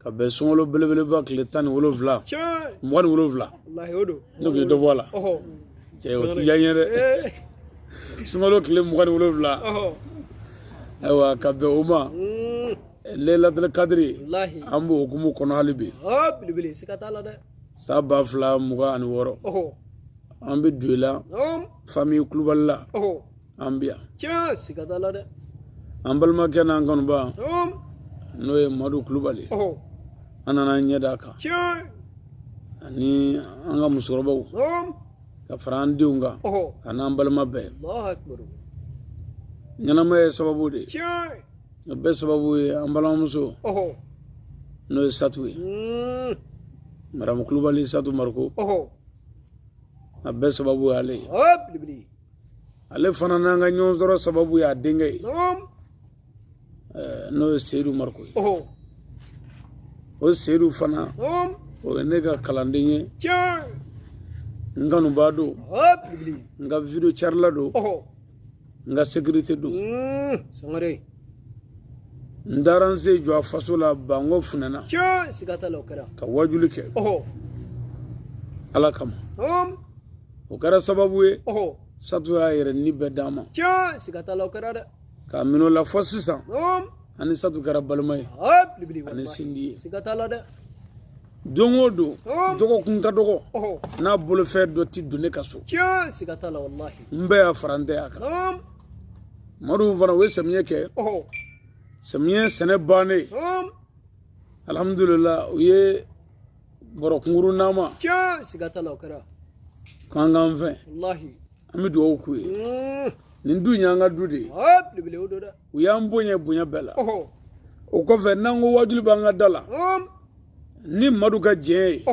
ka bɛn sunkalo belebeleba tile tan ni wolonwula mugan ni wolonwula ne kun ye dɔ bɔ a la cɛ o ti diya n ye dɛ sunkalo tile mugan ni wolonwula ayiwa ka bɛn o ma lelatele kadiri an b'o hukumu kɔnɔ hali bi san ba fila mugan ani wɔɔrɔ an bɛ du in la fami kulubali la an bi yan tiɲɛ siga t'a la dɛ an balimakɛ n'an kanuba n'o ye madu kulubali an nana ɲɛ d'a kan tiɲɛ ani an ka musokɔrɔbaw ka fara an denw kan a n'an balima bɛɛ ɲɛnamaya ye sababu de ye a bɛɛ sababu ye an balimamuso n'o ye satu ye hmm. madamu kulubali satu mariko a bɛɛ sababu y'ale ye ale fana n'an ka ɲɔgɔn sɔrɔ sababu y'a denkɛ ye n'o ye seyidu mariko ye o seyidu fana o ye ne ka kalanden ye n kanubaa don n ka video carila don n ka sekirite don n taara n sen jɔ a faso la bango funɛna ka wajuli kɛ ala kama o kɛra sababu ye satu y'a yɛrɛ ni bɛɛ d'a ma tiɲɛ siga t'a la o kɛra dɛ k'a minɛ o la fɔ sisan ani satu kɛra balima ye ani sinji ye siga t'a la dɛ don o don dɔgɔkun ka dɔgɔ n'a bolofɛn dɔ ti don ne ka so tiɲɛ siga t'a la walahi n bɛ yan fara n tɛ yan kan madu fana o ye samiyɛ kɛ samiyɛ sɛnɛ bannen alhamdulila u ye bɔrɔ kunkurun d'an ma tiɲɛ siga t'a la o kɛra k'an k'an fɛ walahi an bɛ dugawu k'u ye mm. nin du in y'an ka du de ye belebele o don dɛ u y'an bonya bonya bɛɛ la o kɔfɛ n'an ko wajuli b'an ka da la mm. ni madu ka jɛn ye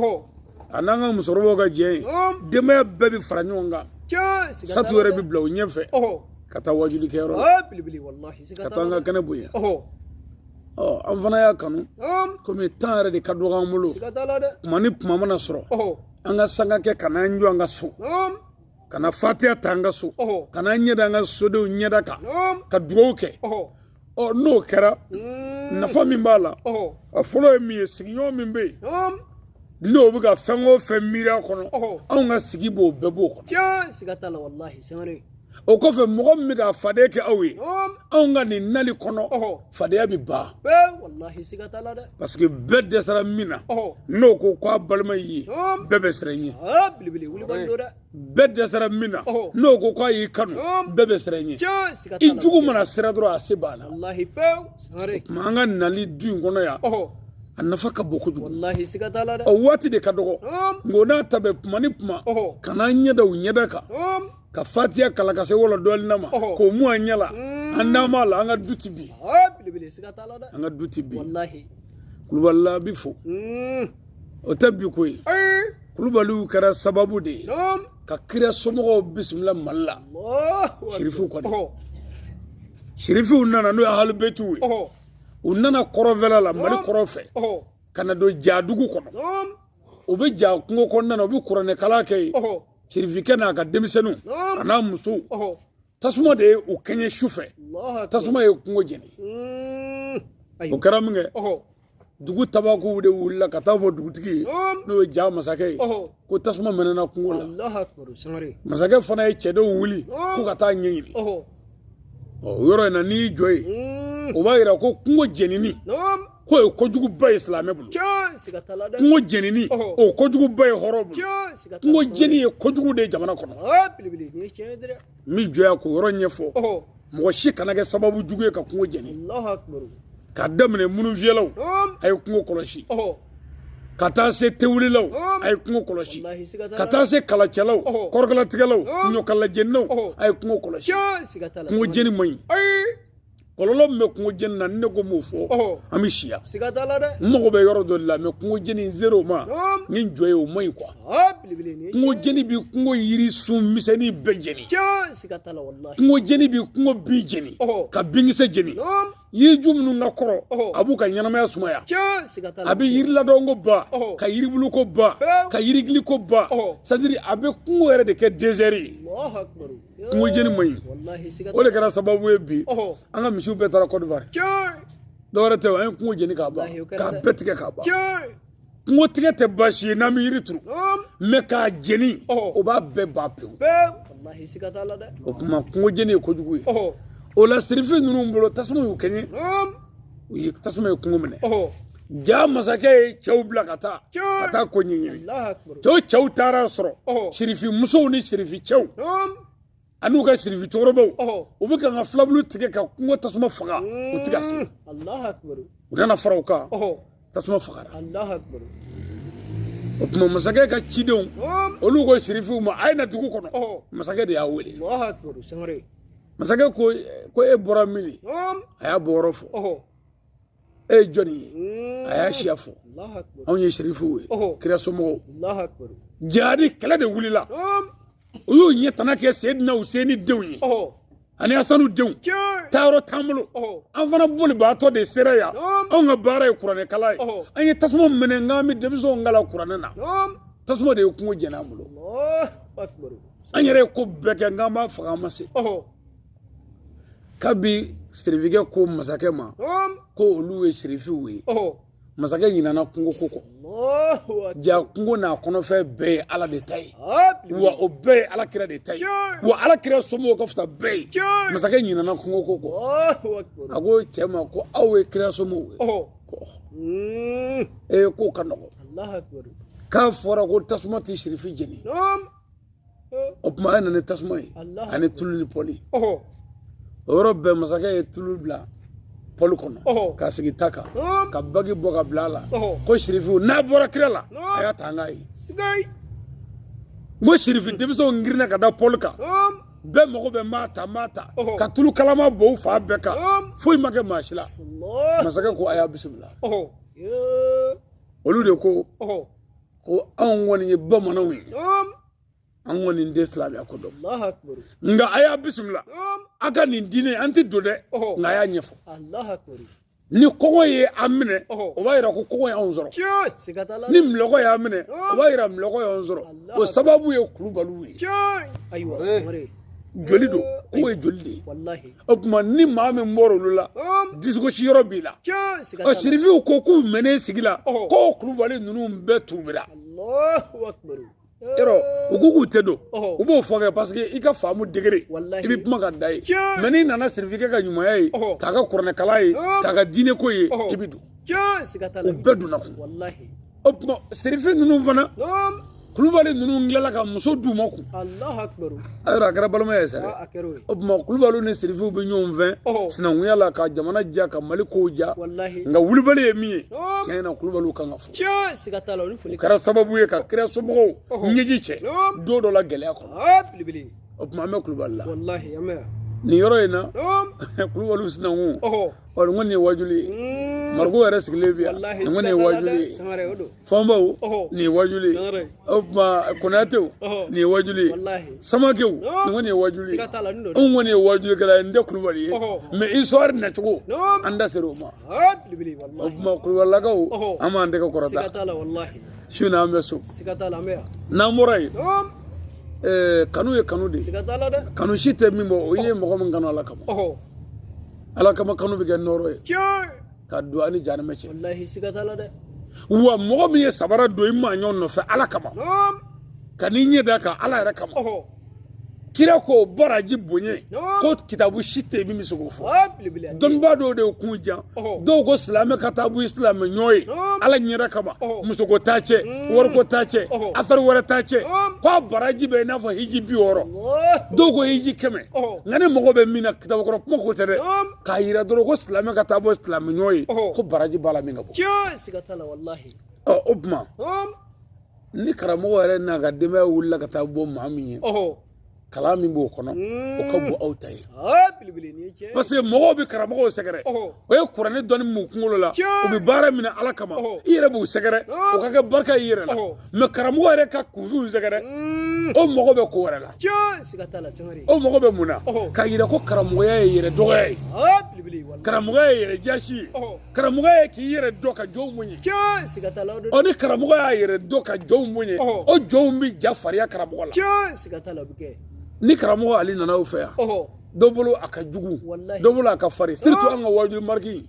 a n'an ka musokɔrɔbaw ka jɛn ye mm. denbaya bɛɛ bɛ fara ɲɔgɔn kan satu yɛrɛ bɛ bila u ɲɛfɛ ka taa wajuli kɛyɔrɔ la ka taa an ka kɛnɛ bonya an fana y'a kanu komi tan yɛrɛ de ka dɔgɔ an bolo kuma ni kuma mana sɔrɔ an ka sanga kɛ ka n'an jɔ an ka so ka na fatiya ta an ka so ka n'an ɲɛda an ka sodenw ɲɛda kan ka dugawu kɛ ɔ n'o kɛra mm. nafa min b'a la a fɔlɔ ye min ye sigiɲɔgɔn min bɛ yen n'o bɛ ka fɛn o fɛn miiri a kɔnɔ anw ka sigi b'o bɛɛ b'o kɔnɔ. tiɲɛ siga t'a la walahi sangare. o kɔfɛ mɔgɔ min bɛ ka fadenya kɛ aw ye anw ka nin nali kɔnɔ fadenya bɛ ban parce que bɛɛ dɛsɛra min na n'o ko k'a balima y'i ye bɛɛ bɛ siran i ɲɛ bɛɛ dɛsɛra min na n'o ko k'a y'i kanu bɛɛ bɛ siran i ɲɛ i jugu mana siran dɔrɔn a se banna tuma an ka nali du in kɔnɔ yan a nafa ka bon kojugu walahi siga t'a la dɛ o waati de ka dɔgɔ nka o n'a ta bɛɛ tuma ni tuma ka n'an ɲɛ da u ɲɛda kan ka fatiya kalan ka se wala dɔɔni na ma k'o mun an ɲɛ la mm. an n'a ma la an ka du ti bi an ka du ti bi kulubalila bi fo mm. o tɛ bi ko ye kulubaliw kɛra sababu de ye ka kira somɔgɔw bisimila mali la sirifuw kɔni sirifuw nana n'o ye halibetiw ye u nana kɔrɔnfɛla la mali kɔrɔn fɛ ka na don jadugu kɔnɔ u bɛ ja kungo kɔnɔna na u bɛ kuranɛkalan kɛ yen sirifikɛ n'a ka denmisɛnninw a n'a musow tasuma de ye u kɛɲɛ su fɛ tasuma ye kungo jeni hmm. o kɛra min kɛ dugu tabakuw de wulila ka taa fɔ dugutigi ye n'o ye ja masakɛ ye ko tasuma mɛnɛna kungo la masakɛ fana ye cɛdenw wuli ko ka taa ɲɛɲini o yɔrɔ in na n'i y'i jɔ yen hmm. o b'a yira ko kungo jenini k'o ye kojuguba ye silamɛ bolo kungo jenini o kojuguba ye hɔrɔn bolo kungo jeni ye kojugu de ye jamana kɔnɔ n bɛ jɔ yan k'o yɔrɔ ɲɛfɔ mɔgɔ si kana kɛ sababu jugu ye ka kungo jeni ka daminɛ mununfiyɛlaw a ye kungo kɔlɔsi ka taa se tewulilaw a ye kungo kɔlɔsi ka taa se kalacɛlaw kɔrɔkalatigɛlaw ɲɔkalajeninaw a ye kungo kɔlɔsi kungo jeni man ɲi kɔlɔlɔ min bɛ kungo jeni na ni ne ko n b'o fɔ an bɛ si yan siga t'a la dɛ n mago bɛ yɔrɔ dɔ de la mais kungo jeni n ser'o ma n ye n jɔ yen o man ɲi quoi kungo jeni bi kungo yiri sun misɛnnin bɛɛ jeni siga t'a la walahi kungo jeni bi kungo bin jeni ka binkisɛ jeni yiriju minnu ka kɔrɔ a b'u ka ɲɛnamaya sumaya a bɛ yiriladɔn ko ban ka yiribulu ko ban ka yirigili ko ban c'est-à-dire a bɛ kungo yɛrɛ de kɛ désert ye kungo jeni man ɲi o de kɛra sababu ye bi an ka misiw bɛɛ taara Côte d'Ivoire dɔwɛrɛ tɛ an ye kungo jeni k'a ban k'a bɛɛ tigɛ k'a ban kungo tigɛ tɛ baasi ye n'an bɛ yiri turu mais k'a jeni o b'a bɛɛ ban pewu o tuma kungo jeni ye kojugu ye o la sirifu ninnu bolo tasuma y'u kɛɲɛ u ye tasuma ye kungo minɛ ja masakɛ ye cɛw bila ka taa ka taa ko ɲɛɲini to cɛw taara sɔrɔ sirifi musow ni sirifi cɛw an'u ka sirifi cɛkɔrɔbaw u bɛ kan ka filabulu tigɛ ka kungo tasuma faga u ti ka se u nana fara u kan tasuma fagara o tuma masakɛ ka cidenw olu ko sirifiw ma a ye na dugu kɔnɔ masakɛ de y'a wele masakɛ ko ko e bɔra min a y'a bɔyɔrɔ fɔ e ye jɔni ye a y'a siya fɔ anw ye sirifiw ye kira somɔgɔw jihadi kɛlɛ de wulila u y'u ɲɛ tana kɛ seyidina useni denw ye ani asanu denw taayɔrɔ t'an bolo an fana bolibaatɔ de sera yan anw ka baara ye kuranɛkalan ye an ye tasuma mɛnɛ n k'an bɛ denmisɛnw kalan kuranɛ na tasuma de ye kungo jeni an bolo an yɛrɛ ye ko bɛɛ kɛ n k'an b'a faga an ma se kabi sirifikɛ ko masakɛ ma ko olu ye sirifiw ye masakɛ ɲinana kungo ko kɔ ja kungo n'a kɔnɔfɛn bɛɛ ye ala de ta ye wa o bɛɛ ye ala kira de ta ye wa ala kira somɔgɔw ka fisa bɛɛ ye masakɛ ɲinana kungo ko kɔ a ko cɛ ma ko aw ye kira somɔgɔw ye mm. ee k'o ka nɔgɔn k'a fɔra ko tasuma tɛ sirifi jeni o tuma a nana ni tasuma ye ani tulu ni pɔli o yɔrɔ bɛɛ masakɛ ye tulu bila pɔli kɔnɔ k'a sigi ta kan ka bagi bɔ ka bila a la ko sirifiw n'a bɔra kira la a y'a ta an k'a ye n ko sirifi denmisɛnw girinna ka da pɔli kan bɛɛ mago bɛ maa ta maa ta ka tulu kalaman bɔn u fan bɛɛ kan foyi ma kɛ maa si la masakɛ ko a y'a bisimila olu de ko ko anw kɔni ye bamananw ye an kɔni tɛ silamɛya ko dɔn nka a y'a bisimila a ka nin diinɛ an tɛ don dɛ nka a y'a ɲɛfɔ ni kɔngɔ ye a minɛ o b'a yira ko kɔngɔ y'anw sɔrɔ ni minlɔgɔ y'a minɛ o b'a yira minlɔgɔ y'anw sɔrɔ o sababu ye kulubaliw ye joli don k'o ye joli de ye o tuma ni maa min bɔra olu la disigosi yɔrɔ b'i la ɔ sirifiw ko k'u mɛnnen sigi la ko kulubali ninnu bɛɛ tuubira yɔrɔ u ko k'u tɛ don u b'o fɔ kɛ parce que i ka faamu degré i bɛ kuma ka dan yen mais n'i nana sirifikɛ ka ɲumanya ye k'a ka kuranɛkalan ye k'a ka diineko ye i bɛ don u bɛɛ donna kun o tuma sirifi ninnu fana kulubali ninnu tilala ka muso d'u ma kun ayiwa a kɛra balimaya ye sa dɛ o tuma kulubaliw ni sirifiw bɛ ɲɔgɔn fɛ sinankunya la ka jamana diya ka mali kow diya nka kulubali ye min ye tiɲɛ na kulubaliw kan ka fo o kɛra sababu ye ka kira somɔgɔw ɲɛji cɛ don dɔ la gɛlɛya kɔnɔ o tuma an bɛ kulubali la nin yɔrɔ in na kulubaliw sinankun ɔ nin kɔni ye wajuli ye mariko yɛrɛ sigilen bi yan nin kɔni ye wajuli ye fɔnbaw nin ye wajuli ye o tuma konatew nin ye wajuli ye samakew nin kɔni ye wajuli ye anw kɔni ye wajulikɛla ye n tɛ kulubali ye mais histoire nacogo an da sera o ma o tuma kulubalilakaw an b'an tɛgɛ kɔrɔta su na an bɛ so n'an bɔra yen kanu ye kanu de ye kanu si tɛ min bɔ o ye mɔgɔ min kanu ala kama ala kama kanu bɛ kɛ nɔɔrɔ ye tiɲɛ ka don a ni jahanama cɛ walahi siga t'a la dɛ wa mɔgɔ min ye sabara don i maaɲɔ nɔfɛ ala kama ka n'i ɲɛ d'a kan ala yɛrɛ kama kira k'o baraji bonya ko kitabu si tɛ yen min bɛ se k'o fɔ dɔnnibaa dɔw de ye kun jan dɔw ko silamɛ ka taa bɔ silamɛ ɲɔ ye ala ɲɛda kama musoko t'a cɛ wariko t'a cɛ afɛri wɛrɛ t'a cɛ k'a baraji bɛ i n'a fɔ hiji bi wɔɔrɔ dɔw ko hiji kɛmɛ nka ne mago bɛ min na kitabu kɔrɔ kuma ko tɛ dɛ k'a yira dɔrɔn ko silamɛ ka taa bɔ silamɛ ɲɔgɔn ye ko baraji b'a la min ka bon o tuma ni karamɔgɔ yɛrɛ n'a ka denbaya wulila ka taa bɔ maa min ye kalan min b'o kɔnɔ o ka bon aw ta ye parce que mɔgɔw bɛ karamɔgɔw sɛgɛrɛ o ye kuranɛ dɔnni b'u kunkolo la u bɛ baara minɛ ala kama i yɛrɛ b'u sɛgɛrɛ o ka kɛ barika i yɛrɛ la mais karamɔgɔ yɛrɛ ka kunfinw sɛgɛrɛ mm. o mago bɛ ko wɛrɛ la o mago bɛ mun na k'a yira ko karamɔgɔya ye yɛrɛ dɔgɔya ye karamɔgɔya ye yɛrɛ jasi ye karamɔgɔya ye k'i yɛrɛ dɔn ka jɔnw bonya ɔ ni karamɔgɔ y'a yɛrɛ dɔn ka jɔnw bonya o jɔnw bɛ ja fariya karamɔgɔ la ni karamɔgɔ ale nana o fɛ yan dɔ bolo a ka jugu dɔ bolo a ka farin surtout an ka wajuli mariki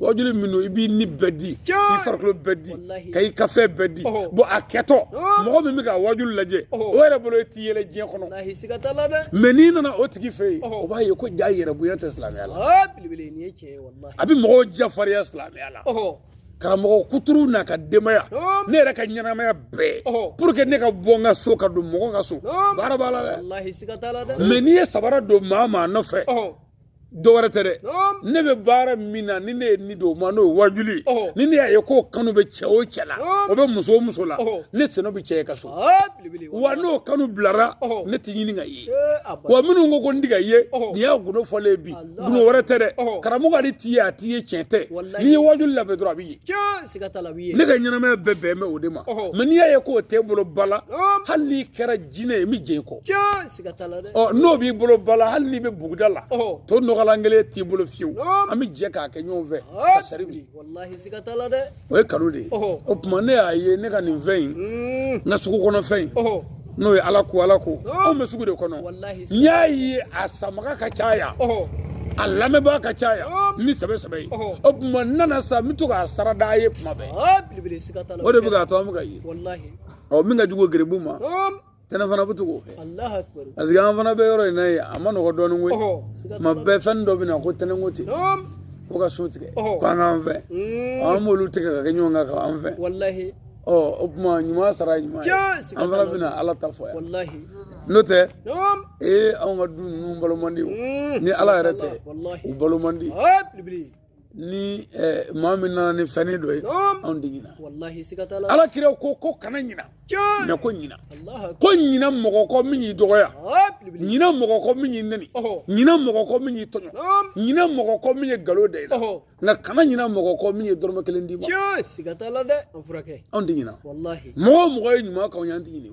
wajuli min don i b'i ni bɛɛ di k'i farikolo bɛɛ di ka i ka fɛn bɛɛ di bon a kɛtɔ mɔgɔ min bɛ ka wajuli lajɛ o yɛrɛ bolo i tɛ yɛlɛ diɲɛ kɔnɔ mais n'i nana o tigi fɛ yen o b'a ye ko jaa yɛrɛbonya tɛ silamɛya la a bɛ mɔgɔw jafarinya silamɛya la karamɔgɔ kuturu n'a ka denbaya ne yɛrɛ ka ɲɛnamaya bɛɛ pour que ne ka bɔ n ka so ka don mɔgɔ ka so baara b'a la dɛ mais n'i ye sabara don maa maa nɔfɛ dɔ wɛrɛ tɛ dɛ ne bɛ baara min na ni ne ye n ni d'o ma n'o ye wajuli ni ne y'a ye k'o kanu bɛ cɛ o cɛ la o bɛ muso o muso la ne sen bɛ cɛ e ka so wa n'o kanu bilara ne t'a ɲini k'a ye wa minnu ko ko n tɛ ka ye nin y'a gundo fɔlen ye bi Gundo wɛrɛ tɛ dɛ karamɔgɔ an t'i ye an t'i ye tiɲɛ tɛ n'i ye wajuli labɛn dɔrɔn a b'i ye ne ka ɲɛnamaya bɛɛ bɛn bɛ o de ma mais n'i y'a ye k'o t'e bolo bala hali n'i kɛra jinɛ ye n bɛ jɛ i kɔ n'o b'i bolo bala hali n'i bɛ buguda la to nɔgɔlan kelen t'i bolo fiyewu an bɛ jɛ k'a kɛ ɲɔgɔn fɛ sari o ye kanu de ye o tuma ne y'a ye ne ka nin fɛn in mm. n ka sugu kɔnɔ fɛn in n'o ye ala ko ala ko oh. anw bɛ sugu de kɔnɔ n y'a ye a sanbaga ka caya a lamɛnbaa ka caya oh. ni sɛbɛ sɛbɛ ye o tuma n nana sa n bɛ to k'a sara d'a ye tuma bɛɛ ah, o de bɛ k'a to an bɛ ka ye ɔ min ka jugu geribu ma tɛnɛ fana bɛ to k'o kɛ parce que an fana bɛ yɔrɔ in na yen a ma nɔgɔ dɔɔnin koyi tuma bɛɛ fɛn dɔ bɛ na ko tɛnɛ ko ten ko ka so tigɛ ko an k'an fɛ an b'olu tigɛ ka kɛ ɲɔgɔn kan k'an fɛ ɔ o tuma ɲuman sara ye ɲuman ye an fana bɛna ala ta fɔ yan n'o tɛ ee anw ka du ninnu balo man di o ni ala yɛrɛ tɛ u balo man di ni eh, maa min nana ni fɛn dɔ ye anw tɛ ɲina ala kira ko ko kana ɲina mais ko ɲina ko ɲina mɔgɔ kɔ min y'i dɔgɔya ɲina mɔgɔ kɔ min y'i nɛni ɲina mɔgɔ kɔ min y'i tɔɲɔ ɲina mɔgɔ kɔ min ye galo da i la nka kana ɲina mɔgɔ kɔ min ye dɔrɔmɛ kelen d'i ma anw tɛ ɲina mɔgɔ o mɔgɔ ye ɲuman k'anw ye an tɛ ɲini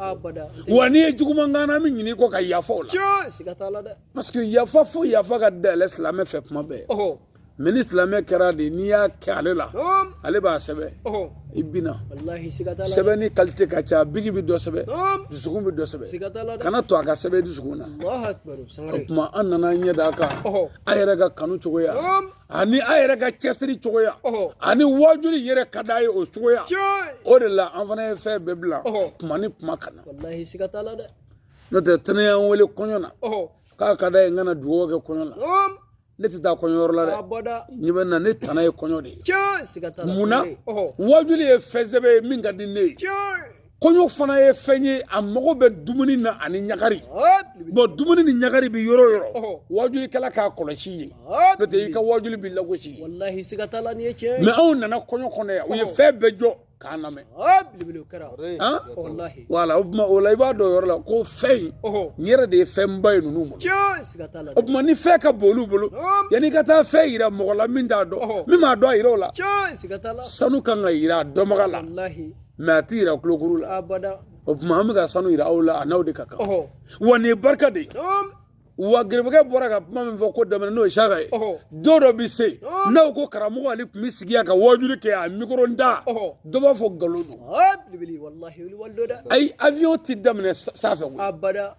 wa n'i ye juguman k'an na an bɛ ɲini kɔ ka yafa o la parce que yafa fo yafa ka dayɛlɛ silamɛ fɛ kuma bɛɛ mais ni silamɛ kɛra de n'i y'a kɛ ale la ale b'a sɛbɛn i bina sɛbɛnni kalite ka ca bigi bɛ dɔ sɛbɛn dusukun bɛ dɔ sɛbɛn kana to a ka sɛbɛn dusukun na o tuma an nana ɲɛ d'a kan a yɛrɛ ka kanu cogoya ani a yɛrɛ ka cɛsiri cogoya ani wajuli yɛrɛ ka d'a ye o cogoya o de la an fana ye fɛn bɛɛ bila kuma ni kuma ka na n'o tɛ tɛnɛ y'an wele kɔɲɔ na k'a ka d'a ye n ka na dugawu kɛ kɔɲɔ la ne tɛ taa kɔɲɔyɔrɔ la dɛ ɲɛ bɛ na ne tana ye kɔɲɔ de ye mun na wajuli ye fɛn sɛbɛ ye min ka di ne ye kɔɲɔ fana ye fɛn ye a mago bɛ dumuni na ani ɲagari bɔ dumuni ni ɲagari bɛ yɔrɔ o yɔrɔ wajulikɛla k'a kɔlɔsi yen n'o tɛ i ka wajuli bɛ lagosi yen mais anw nana kɔɲɔ kɔnɔ yan u ye fɛn bɛɛ jɔ k'a lamɛn wala o tuma o la i b'a dɔn o yɔrɔ la ko fɛn in n yɛrɛ de ye fɛnba ye ninnu ma o tuma ni fɛn ka bon olu bolo yanni i ka taa fɛn yira mɔgɔ la min t'a dɔn min m'a dɔn a yira o la sanu kan ka yira a dɔnbaga la mais a ti yira kulokuru la o tuma an bɛ ka sanu yira aw la a n'aw de ka kan wa nin ye barika de ye wa gerebekɛ bɔra ka kuma min fɔ ko daminɛ n'o ye saka ye don dɔ bɛ se n'aw ko karamɔgɔ ale tun bɛ sigi yan ka wajuli kɛ a mikoro da dɔ b'a fɔ nkalon don ayi avion tɛ daminɛ sanfɛ koyi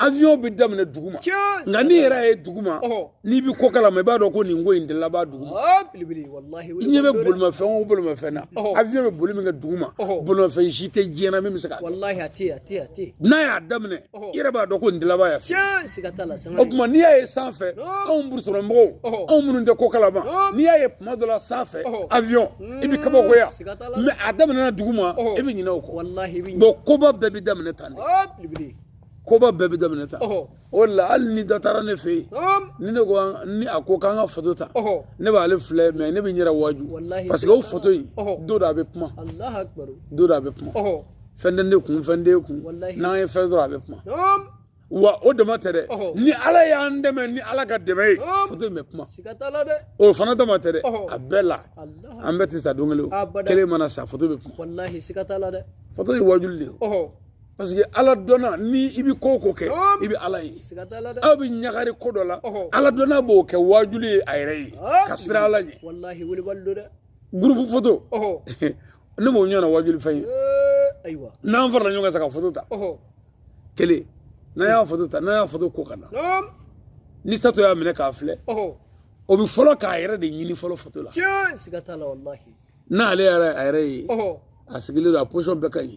avion bɛ daminɛ dugu ma nka n'i yɛrɛ ye dugu ma n'i bɛ ko kalama i b'a dɔn ko nin ko in de laban dugu ma i ɲɛ bɛ bolimafɛn o bolimafɛn na avion bɛ boli min kɛ dugu ma bolimafɛn si tɛ diɲɛ na min bɛ se ka n'a y'a daminɛ i yɛrɛ b'a dɔn ko nin dilaba y'a fɛ o tuma n'i y'a ye sanfɛ anw burusi rɔ mɔgɔw anw minnu tɛ ko kalama n'i y'a ye tuma dɔ la sanfɛ avion i bɛ kabakoya mais a daminɛna duguma i bɛ ɲinɛ o kɔ bon koba bɛɛ bɛ daminɛ tan de koba bɛɛ bɛ daminɛ tan o de la hali ni dɔ taara ne fɛ yen ni ne ko ni a ko k'an ka foto ta ne b'ale filɛ mais ne bɛ n yɛrɛ waaju parce que o foto in don dɔ a bɛ kuma don dɔ a bɛ kuma fɛn tɛ ne kun fɛn t'e kun n'an ye fɛn sɔrɔ a bɛ kuma wa o dama tɛ dɛ ni ala y'an dɛmɛ ni ala ka dɛmɛ ye foto in bɛ kuma o fana dama tɛ dɛ a bɛɛ la an bɛɛ tɛ sa don kelen o kelen mana sa foto bɛ kuma foto ye wajuli de ye parce que ala dɔnna ni i bɛ ko o ko kɛ i bɛ ala ye aw bɛ ɲagari ko dɔ la ala dɔnna b'o kɛ wajuli ye a yɛrɛ ye ka siran ala ɲɛ gurupu foto ne m'o ɲɔgɔnna waajuli fɛn ye ayiwa n'an farala ɲɔgɔn kan sa ka foto ta kelen n'an y'a foto ta n'an y'a foto ko ka na ni sato y'a minɛ k'a filɛ o bɛ fɔlɔ k'a yɛrɛ de ɲini fɔlɔ foto la n'ale y'a yɛrɛ ye a sigilen don a position bɛɛ ka ɲi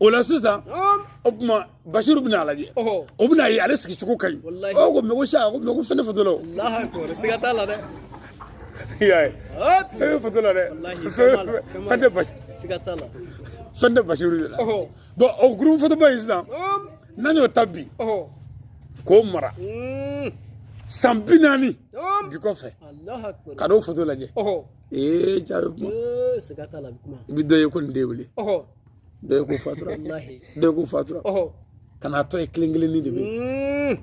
o la sisan o tuma basiru bɛna a lajɛ o bɛna ye ale sigi cogo ka ɲi o ko mɛ ko sa ko mɛ ko fɛn tɛ foto la o siga t'a la dɛ i y'a ye fɛn bɛ foto la dɛ fɛn tɛ basi siga t'a la fɛn tɛ basiru de la bon o gurupu fotoba in sisan n'an y'o ta bi k'o mara san bi naani bi kɔfɛ ka n'o foto lajɛ ee ja bɛ kuma Ee, siga t'a la a bɛ kuma i bɛ dɔ ye ko nin de wele ɔhɔ dɔ ye ko fatura walahi dɔ ye ko fatura ɔhɔ ka n'a tɔ ye kelen kelennin de bɛ yen Mm.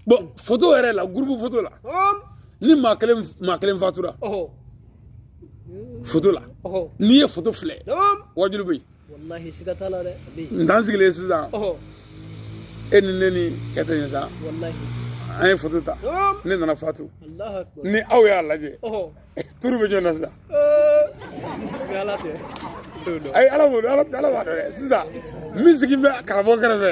bon foto yɛrɛ la gurupu foto la Ɔm. ni maa kelen maa kelen fatura ɔhɔ foto la ɔhɔ n'i ye foto filɛ ɔm. wajulu bɛ yen walahi siga t'a la dɛ n'an sigilen sisan e ni ne ni cɛ tɛ ɲɛ sa an ye foto ta ne nana fatu ni aw y'a lajɛ turu bɛ ɲɔgɔn na sisan ayi ala b'o dɔn ala b'a dɔn dɛ sisan min sigilen bɛ karamɔgɔ kɛrɛfɛ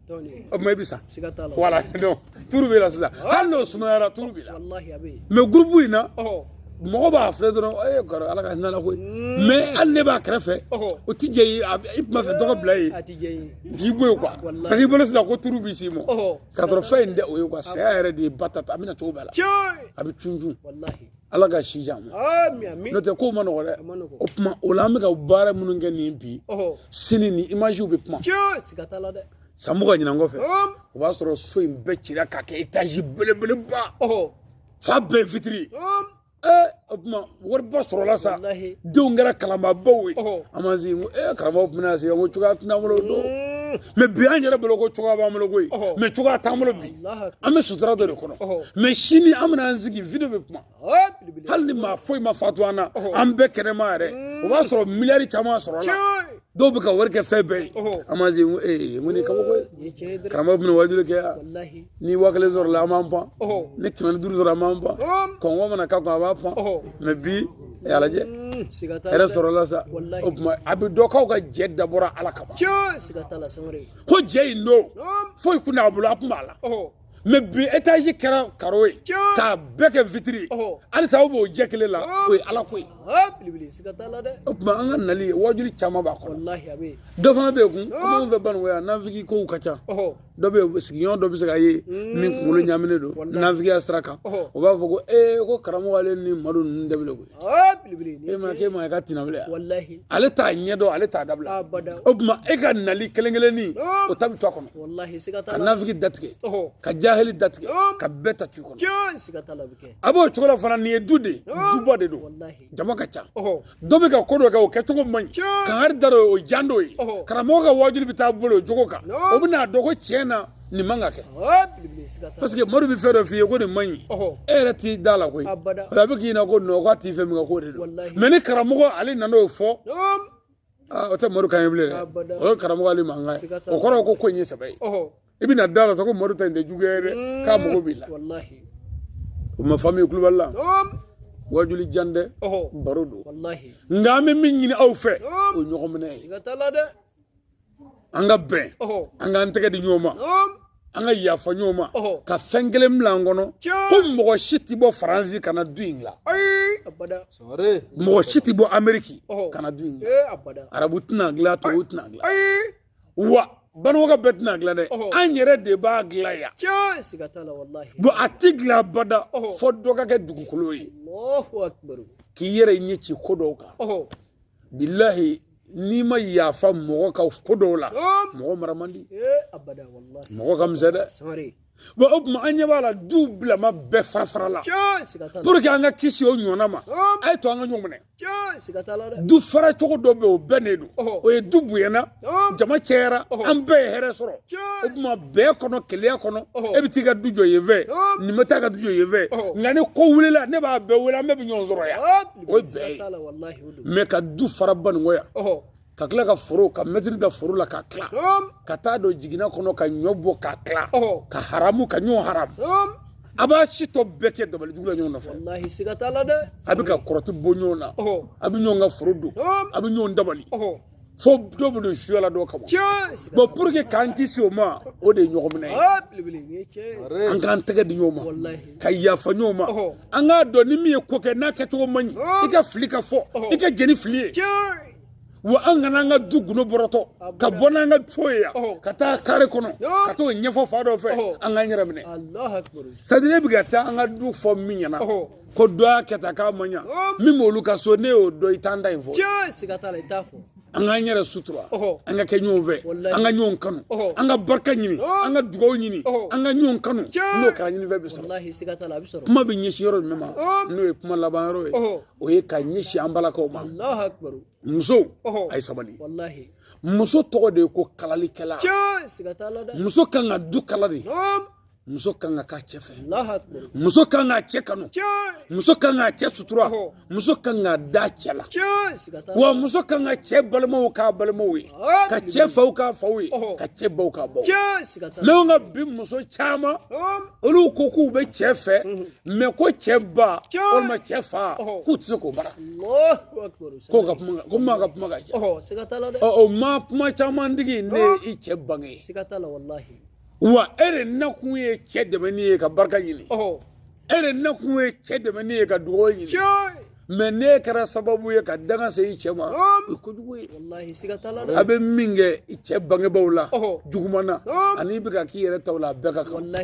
O tuma i bɛ sa voilà donc turu b'i la sisan hali n'o sumayara turu b'i la mais gurupu in na mɔgɔ b'a filɛ dɔrɔn e ye kɔrɔ ala ka hinɛ a la koyi mais hali ne b'a kɛrɛfɛ o tɛ jɛ i tun b'a fɛ dɔ ka bila yen k'i bɔ yen quoi parce que i bolo sisan ko turu bɛ s'i ma ka sɔrɔ fɛn in tɛ o ye quoi saya yɛrɛ de ye ba ta a bɛna cogo bɛɛ la a bɛ cun cun ala ka si jan n'o tɛ ko ma nɔgɔ dɛ o tuma o la an bɛ ka baara minnu kɛ nin bi sini ni imaziw bɛ kuma san mugan ɲinan kɔfɛ o b'a sɔrɔ so in bɛɛ cira k'a kɛ etazi belebeleba fan bɛɛ fitiri ee o tuma wariba sɔrɔla sa denw kɛra kalanbaabaw ye an ma se ko ee karamɔgɔ tun bɛna se ko cogoya t'an bolo don mɛ bi an yɛrɛ bolo ko cogoya b'an bolo koyi mɛ cogoya t'an bolo bi an bɛ sutura dɔ de kɔnɔ mɛ sini an bɛna an sigi video bɛ kuma hali ni maa foyi ma fatu an na an bɛɛ kɛnɛma yɛrɛ mm. o b'a sɔrɔ miliyari caman sɔrɔla dɔw bɛ ka wari kɛ fɛn bɛɛ ye an b'an sigi ee ko nin kabako ye karamɔgɔ bɛna wajuli kɛ yan ni waa kelen sɔrɔla an b'an pan ni kɛmɛ duuru sɔrɔla an b'an pan kɔngɔ mana k'a kun a b'a pan mɛ bi a y'a lajɛ hɛrɛ sɔrɔla sa o tuma a bɛ dɔn k'aw ka jɛ dabɔra ala kama ko jɛ in don foyi kun t'a bolo a kun b'a la mɛ bi etazi kɛra karo ye k'a bɛɛ kɛ fitiri halisa aw b'o jɛ kelen la o ye ala ko ye o tuma an ka nali wajuli caman b'a kɔnɔ dɔ fana bɛ yen komi anw fɛ banikɔ yan nafiki kow ka ca dɔ bɛ yen sigiɲɔgɔn dɔ bɛ se ka ye min kunkolo ɲaaminen don nafigiya sira kan o b'a fɔ ko ee ko karamɔgɔ ale ni madu ninnu de bɛ koyi e ma k'e ma ka tina wele ale t'a ɲɛ dɔn ale t'a dabila o tuma e ka nali kelen kelennin o ta bɛ to a kɔnɔ ka nafiki datigɛ ka jahili datigɛ ka bɛɛ ta to u kɔnɔ a b'o cogo la fana nin ye du de duba de don jama ka ca dɔ bɛ ka ko dɔ kɛ o kɛcogo man ɲi kangari da o jan dɔ ye karamɔgɔ ka wajuli bɛ taa bolo o jogo kan o bɛn'a dɔn ko tiɲɛ na nin man ka kɛ parce que madu bɛ fɛn dɔ f'i ye ko nin man ɲi e yɛrɛ t'i da la koyi a bɛ k'i ɲɛna ko non k'a t'i fɛ minkɛ k'o de don mɛ ni karamɔgɔ ale nana o fɔ o tɛ madu kan ye bilen dɛ o ye karamɔgɔ ale mankan ye o kɔrɔ ko ko in ye sɛbɛ ye i bɛna da la sa ko madu ta in tɛ juguya ye dɛ mm. k'a mago b'i la o ma famille kulubali la wajuli jan tɛ baro don nka an bɛ min ɲini aw fɛ o ɲɔgɔn minɛ ye an ka bɛn an k'an tɛgɛ di ɲɔgɔn ma an ka yafa ɲɔgɔn ma ka fɛn kelen bila an kɔnɔ ko mɔgɔ si tɛ bɔ faransi ka na du in dilan mɔgɔ si tɛ bɔ ameriki ka na du in dilan eh, arabu tɛna dilan tubabu tɛna dilan wa banikɔkaw bɛɛ tɛna dilan dɛ an yɛrɛ de b'a dilan yan bɔn a tɛ dilan abada fɔ dɔ ka kɛ dugukolo ye k'i yɛrɛ ɲɛ ci ko dɔw kan bilahi n'i ma yafa mɔgɔ ka ko dɔw la mɔgɔ mara man di mɔgɔ ka misɛn dɛ bon o tuma an ɲɛ b'a la duw bilama bɛɛ farafarala pour que an ka kisi o ɲɔgɔnna ma a ye to an ka ɲɔgɔn minɛ du fara cogo dɔ bɛ o bɛn ne don o ye du bonyana jama cɛyara an bɛɛ ye hɛrɛ sɔrɔ o tuma bɛn kɔnɔ kelenya kɔnɔ e bɛ t'i ka du jɔ yen fɛ nin bɛ t'a ka du jɔ yen fɛ nka ni ko wulila ne b'a bɛɛ wele an bɛɛ bɛ ɲɔgɔn sɔrɔ yan o ye bɛn ye mais ka du fara baɲɛngoya ka tila ka foro ka mɛtiri da foro la ka tila ka taa don jiginna kɔnɔ ka ɲɔ bɔ ka tila ka haramu ka ɲɔgɔn haramu a b'a si tɔ bɛɛ kɛ dabalijugu la ɲɔgɔn nɔfɛ a bɛ ka kɔrɔti bon ɲɔgɔn na a bɛ ɲɔgɔn ka foro don a bɛ ɲɔgɔn dabali fo dɔ bɛ don suya la dɔ kama bon pour que k'an kisi o ma o de ye ɲɔgɔn minɛ ye ah, an k'an tɛgɛ di ɲɔgɔn ma ka yafa ɲɔgɔn ma an k'a dɔn ni min ye ko kɛ n'a kɛcogo man ɲi i ka fili ka fɔ i ka jeni fili ye wa an kana an ka du gundo bɔrɔtɔ ka bɔ n'an ka so ye yan ka taa kare kɔnɔ ka t'o ɲɛfɔ fan dɔ fɛ an k'an yɛrɛ minɛ c'est-à-dire e bɛ ka taa an ka du fɔ min ɲɛna ko dɔ y'a kɛ tan k'a ma ɲa min b'olu ka so ne y'o dɔn i t'an ta in fɔ an k'an yɛrɛ sutura an ka kɛ ɲɔgɔn fɛ an ka ɲɔgɔn kanu an ka barika ɲini an ka dugawu ɲini an ka ɲɔgɔn kanu n'o kɛra ɲininfɛn bɛ sɔrɔ kuma bɛ ɲɛsin yɔrɔ jumɛn ma n'o ye kuma laban yɔrɔ ye o ye ka ɲɛsin an balakaw ma musow a ye sabali muso tɔgɔ de ye ko kalalikɛla muso kan ka du kala de muso kan ka k'a cɛ fɛ muso kan k'a cɛ kanu muso kan k'a cɛ sutura muso kan k'a da cɛ la wa muso kan ka cɛ balimaw k'a balimaw ye ka cɛ faw k'a faw ye ka cɛ baw k'a baw mais anw ka bi muso caman olu ko k'u bɛ cɛ fɛ mais ko cɛ ba walima cɛ fa k'u tɛ se k'o bara k'o ka kuma ko maa ka kuma ka ca o maa kuma caman tigi ne y'i cɛ bange wa e de nakun ye cɛ dɛmɛni ye ka barika ɲini e de nakun ye cɛ dɛmɛni ye ka dugawu ɲini mais n'e kɛra sababu ye ka danga se i cɛ ma o ye kojugu ye a bɛ min kɛ i cɛ bangebaaw la juguman na ani i bɛ ka k'i yɛrɛ taw la a bɛɛ ka kan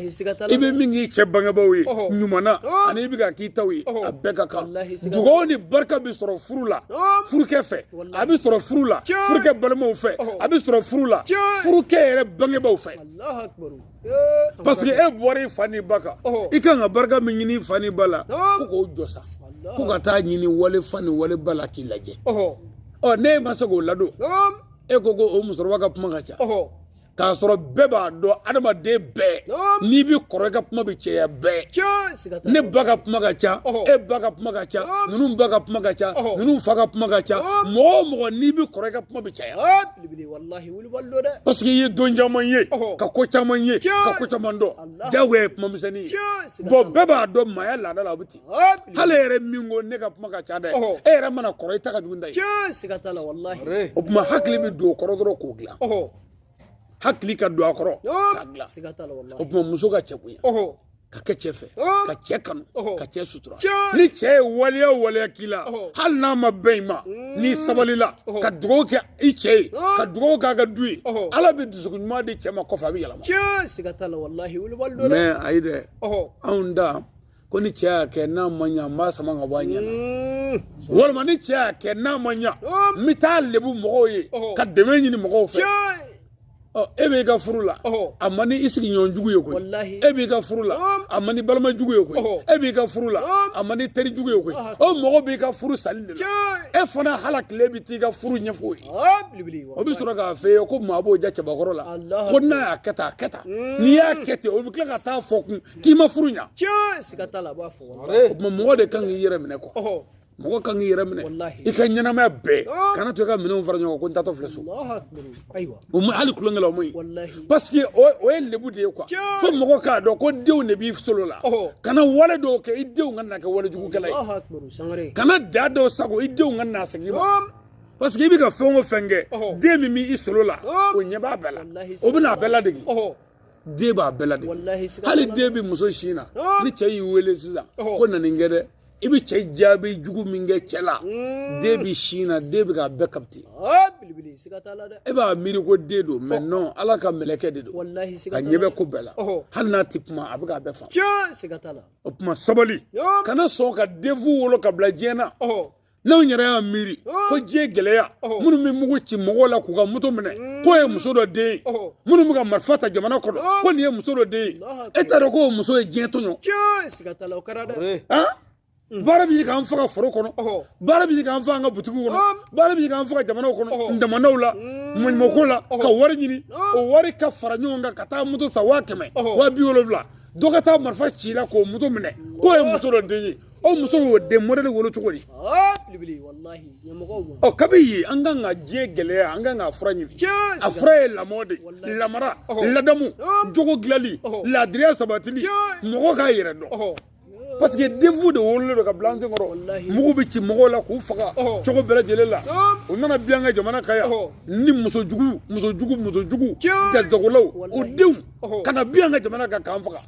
i bɛ min k'i cɛ bangebaaw ye ɲuman na ani i bɛ ka k'i taw ye a bɛɛ ka kan dugawu ni barika bɛ sɔrɔ furu la furukɛ fɛ a bɛ sɔrɔ furu la furukɛ balimaw fɛ a bɛ sɔrɔ furu la furukɛ yɛrɛ bangebaaw fɛ parce que e bɔra i fa ni ba kan i kan ka barika min ɲini i fa ni ba la ko k'o jɔ sa ko ka taa ɲini wali fa ni wali ba la k'i lajɛ ɔ n'e ma se k'o ladon e ko ko o musokɔrɔba ka kuma ka ca k'a sɔrɔ bɛɛ b'a dɔn adamaden bɛɛ n'i bɛ kɔrɔ i ka kuma bɛ cɛya bɛɛ ne ba ka kuma ka ca e ba ka kuma ka ca ninnu ba ka kuma ka ca ninnu fa ka kuma ka ca mɔgɔ o mɔgɔ n'i bɛ kɔrɔ i ka kuma bɛ caya paseke i ye don caman ye ka ko caman ye ka ko caman dɔn jagoya ye kuma misɛnnin ye bɔn bɛɛ b'a dɔn maaya laada la a bɛ ten hali e yɛrɛ min ko ne ka kuma ka ca dɛ e yɛrɛ mana kɔrɔ i ta ka jugu n ta ye tiɲɛ siga t'a la walahi o tuma hakili bɛ don o kɔrɔ dɔrɔn k'o dilan hakili ka don a kɔrɔ k'a dilan siga t'a la walahi o tuma muso ka cɛ bonya ka kɛ cɛ fɛ ka cɛ kanu ka cɛ sutura ni cɛ ye waleya o waleya k'i la hali n'a ma bɛn i ma n'i sabalila ka dugawu kɛ i cɛ ye ka dugawu k'a ka du ye ala bɛ dusukun ɲuman di cɛ ma kɔfɛ a bɛ yɛlɛma tiɲɛ siga t'a la walahi wolobali don dɛ mɛ ayi dɛ anw da ko ni cɛ y'a kɛ n'a ma ɲa n b'a sama ka bɔ a ɲɛ na hmm. walima ni cɛ y'a kɛ n'a ma ɲa hmm. n bɛ taa lebu mɔgɔw ye oh. ka dɛmɛ ɲini mɔgɔw fɛ Oh, e b'i ka furu la oh. a man ni i sigiɲɔgɔn jugu ye koyi e b'i ka furu la oh. a man ni balima jugu ye koyi e b'i ka furu la a man ni teri jugu ye koyi o mɔgɔ b'i ka furu sali de la e fana hala tile bɛ t'i ka furu ɲɛfɔ ye o bɛ sɔrɔ k'a fɔ e ye ko maa b'o ja cɛbakɔrɔ la ko n'a y'a kɛ tan a kɛ tan n'i y'a kɛ ten o bɛ tila ka taa fɔ kun k'i ma furu ɲa tiɲɛ siga t'a la a b'a fɔ o tuma mɔgɔ de kan k'i yɛrɛ minɛ kuwa mɔgɔ kan k'i yɛrɛ minɛ i ka ɲɛnamaya bɛɛ kana to i ka minɛnw fara ɲɔgɔn kan ko n taatɔ filɛ so o ma hali tulonkɛ la o man ɲi parce que o ye lebu de ye kuwa fo mɔgɔ k'a dɔn ko denw de b'i solo la kana wale dɔw kɛ i denw ka na kɛ wale jugukɛla ye kana da dɔw sago i denw ka na segin i ma parce que i bɛ ka fɛn o fɛn kɛ den min b'i solo la o ɲɛ b'a bɛɛ la o bɛna a bɛɛ ladege den b'a bɛɛ ladege walahi siga hali t'a la. den bɛ muso sin na Ɔn. ni cɛ y'i wele sisan Ɔhɔ. ko na nin kɛ dɛ i bɛ cɛ jaabi jugu min kɛ cɛ la Mm. den bɛ sin na den bɛ k'a bɛɛ kapite Ah, bilibili siga t'a la dɛ e b'a miiri ko den don mɛ non ala ka mɛlɛkɛ de don walahi siga a t'a ɲɛ la bɛ ko bɛɛ la Ɔhɔ. hali n'a tɛ kuma a bɛ k'a bɛɛ faamu tiɲɛ siga t'a la o tuma sabali Ɔn. kana sɔn ka denfu wolo ka bila diɲɛ na Ɔhɔ. n'anw yɛrɛ y'a miiri oh. ko diɲɛ gɛlɛya oh. minnu bɛ mugu ci mɔgɔw la k'u ka moto minɛ mm. k'o ye muso dɔ den ye oh. minnu bɛ ka marifa ta jamana kɔnɔ ko nin ye muso dɔ den ye e t'a dɔn k'o muso ye diɲɛ tɔɲɔ mm. baara bɛ k'an faga foro kɔnɔ baara bɛ k'an faga an ka butigiw kɔnɔ um. baara bɛ k'an faga jamanaw kɔnɔ damandaw la mm. maɲumako la ka wari ɲini um. o wari ka fara ɲɔgɔn kan ka taa moto san waa kɛmɛ waa bi wolonwula dɔ ka taa marifa ci la k'o moto minɛ k'o ye muso dɔ den ye o muso y'o den mɔdɛli wolo cogo di ɔ kabi ye an kan ka diɲɛ gɛlɛya an kan ka fura ɲini a fura ye lamɔ de lamara ladamu jogo dilanli laadiriya sabatili mɔgɔ k'a yɛrɛ dɔn parce que denfu de wololen don ka bila an sen kɔrɔ mugu bɛ ci mɔgɔw la k'u faga cogo bɛɛ lajɛlen la u nana bin an ka jamana kan yan ni muso jugu muso jugu muso jugu jajagolaw o denw ka na bin an ka jamana kan k'an faga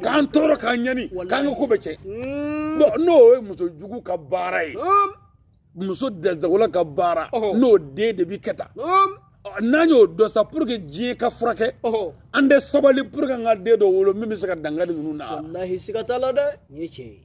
k'an tɔɔrɔ k'an ɲani k'an ka ko bɛɛ cɛn n'o ye muso jugu ka baara ye muso dɛsɛgɔla ka baara n'o den de bɛ kɛ tan n'an y'o dɔn sa pour que diɲɛ ka furakɛ an tɛ sabali pour que an ka den dɔ wolo min bɛ se ka dankari ninnu na walahi siga t'a la dɛ nin ye tiɲɛ ye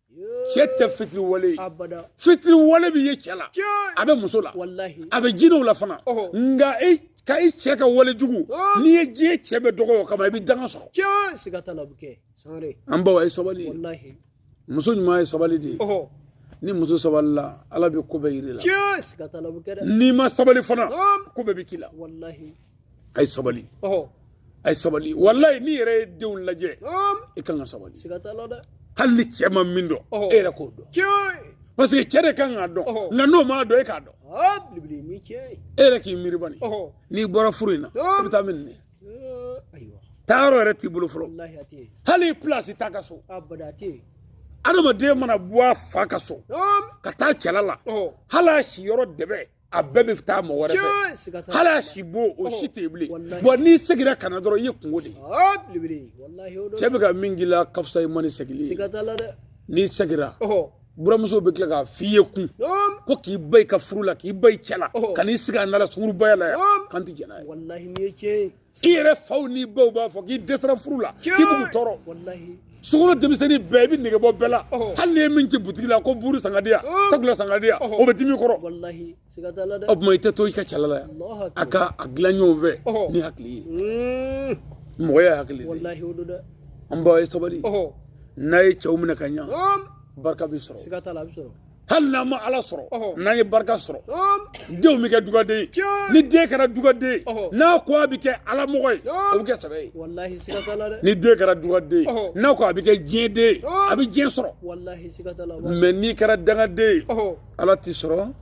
cɛ tɛ fitiri wale ye fitiri wale bɛ ye cɛ la a bɛ muso la a bɛ jinɛw la fana nka e ka i cɛ ka wale jugu n'i ye diɲɛ cɛ bɛɛ dɔgɔ o kama i bɛ danga sɔrɔ an baw a ye sabali muso ɲuman ye sabali de ye ni muso sabalila ala bɛ ko bɛɛ yir'i la n'i ma sabali fana ko bɛɛ bɛ k'i la a ye sabali a ye sabali walayi n'i yɛrɛ ye denw lajɛ i kan ka sabali hali ni cɛ ma min dɔn e yɛrɛ k'o dɔn parce que cɛ de kan k'a dɔn nka n'o m'a dɔn e k'a dɔn e yɛrɛ k'i miiri bani n'i bɔra furu in na i bɛ taa min nin taa yɔrɔ yɛrɛ t'i bolo fɔlɔ hali i pilasi t'aw ka so adamaden mana bɔ a fa ka so ka taa cɛla la hali a si yɔrɔ dɛbɛ a bɛɛ bɛ taa mɔgɔ wɛrɛ fɛ hali a sibon o si tɛ yen bilen bon n'i seginna ka na dɔrɔn i ye kunko de ye cɛ bɛ ka min k'i la ka fisa i ma ni segili ye n'i seginna buramuso bɛ tila k'a f'i ye kunko k'i ban i ka furu la k'i ban i cɛ la ka n'i sigi an da la sungurubaya la yan k'an tɛ jɛn n'a ye i yɛrɛ faw n'i baw b'a fɔ k'i dɛsɛra furu la k'i b'u tɔɔrɔ sokɔnɔ denmisɛnnin bɛɛ i bɛ nege bɔ bɛɛ la hali n'i ye min ci butigi la ko buuru san ka di yan takula san ka di yan o bɛ dimi i kɔrɔ o tuma i tɛ to i ka cɛla la yan a ka a dilan ɲɔgɔn fɛ ni hakili ye mɔgɔya hakili de an baw a ye sabali n'a ye cɛw minɛ ka ɲa barika bɛ sɔrɔ hali n'an ma ala sɔrɔ n'an ye barika sɔrɔ denw bɛ kɛ dugaden ye ni den kɛra dugaden ye n'a ko a bɛ kɛ ala mɔgɔ ye o bɛ kɛ sɛbɛ ye ni den kɛra dugaden ye n'a ko a bɛ kɛ diɲɛ den ye a bɛ diɲɛ sɔrɔ mais n'i kɛra dangaden ye ala t'i sɔrɔ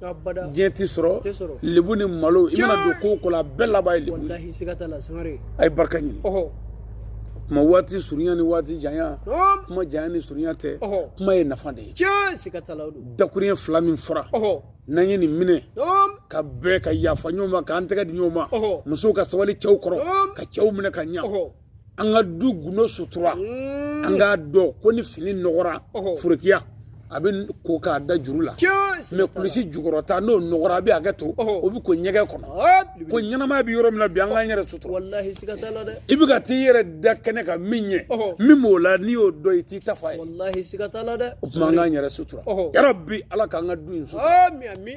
diɲɛ t'i sɔrɔ lebu ni malo i mana don ko o ko la a bɛɛ laban ye lebu ye a ye barika ɲini kuma waati surunya ni waati janya kuma janya ni surunya tɛ kuma ye nafa de ye tiɲɛ siga t'a la o don dakuruɲɛ fila min fɔra ɔhɔ n'an ye nin minɛ tom ka bɛɛ ka yafa ɲɔgɔn ma k'an tɛgɛ di ɲɔgɔn ma ɔhɔ musow ka sabali cɛw kɔrɔ Naam. ka cɛw minɛ ka ɲa ɔhɔ an ka du gundo sutura Mm. an k'a dɔn ko ni fini nɔgɔra Ɔhɔ. forokiya a bɛ ko k'a da juru la tiɲɛ siga mɛ t'a la kulisi jukɔrɔta n'o nɔgɔra a bɛ hakɛ to Ɔhɔ. o bɛ ko ɲɛgɛn kɔnɔ Aa, bilibili. ko ɲɛnamaya bɛ yɔrɔ min na bi an k'an yɛrɛ sutura walahi siga t'a la dɛ i bɛ ka t'i yɛrɛ da kɛnɛ kan min ɲɛ Ɔhɔ. min b'o la n'i y'o dɔn i t'i ta f'a ye Walahi siga t'a la dɛ. O tuma an k'an yɛrɛ sutura. Yarabi Ala k'an ka du in sutura. Ami ami.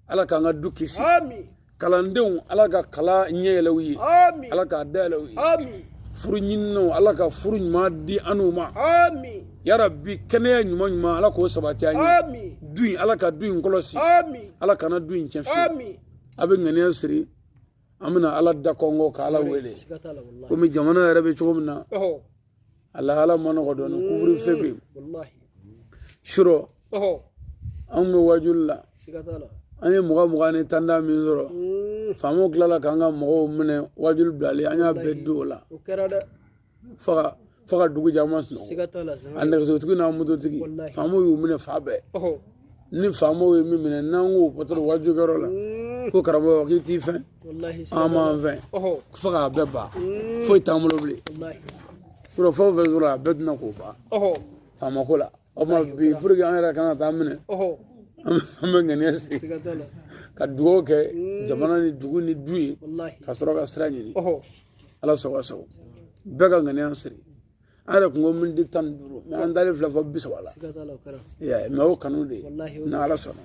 Ala k'an ka du kisi. Ami. Kalandenw Ala ka kalan ɲɛ yɛlɛ u ye. Ami. Ala k'a dayɛlɛ u ye. Ami. Furu ɲininnaw Ala ka furu ɲuman di an n'u ma. Ami. Yarabi kɛnɛya ɲuman ɲuman Ala k'o sabati an ye. Ami. Du in Ala ka du in kɔlɔsi. Ami. Ala kana du in tiɲɛ fiyewu. Ami. A bɛ ŋaniya siri. an bɛna ala da kɔnkɔn ka ala wele komi jamana yɛrɛ bɛ cogo min na a lahala man nɔgɔ dɔɔnin couvre-feu bɛ yen surɔ anw bɛ wajuli la an ye mugan mugan ni tan tan min sɔrɔ faamaw tilala k'an ka mɔgɔw minɛ wajuli bilalen an y'a bɛɛ don o la fo ka dugu jɛ an ma sunɔgɔ a nɛgɛsotigi n'a mototigi faamaw y'u minɛ f'a bɛɛ ni faamaw ye min minɛ n'an ko patɔrɔn wajulikɛyɔrɔ la ko karamɔgɔ k'i t'i fɛn an m'an fɛn fo k'a bɛɛ ban foyi t'an bolo bilen surɔ fɛn o fɛn sɔrɔ a bɛɛ tɛna k'o ban faamako la o tuma bi pour que an yɛrɛ kana taa minɛ an bɛ ŋaniya siri ka dugawu kɛ jamana ni dugu ni du ye ka sɔrɔ ka sira ɲini ala sago a sago bɛɛ ka ŋaniya siri an yɛrɛ kun ko miniti tan ni duuru mɛ an dalen filɛ fo bi saba la mɛ o kanu de ni ala sɔnna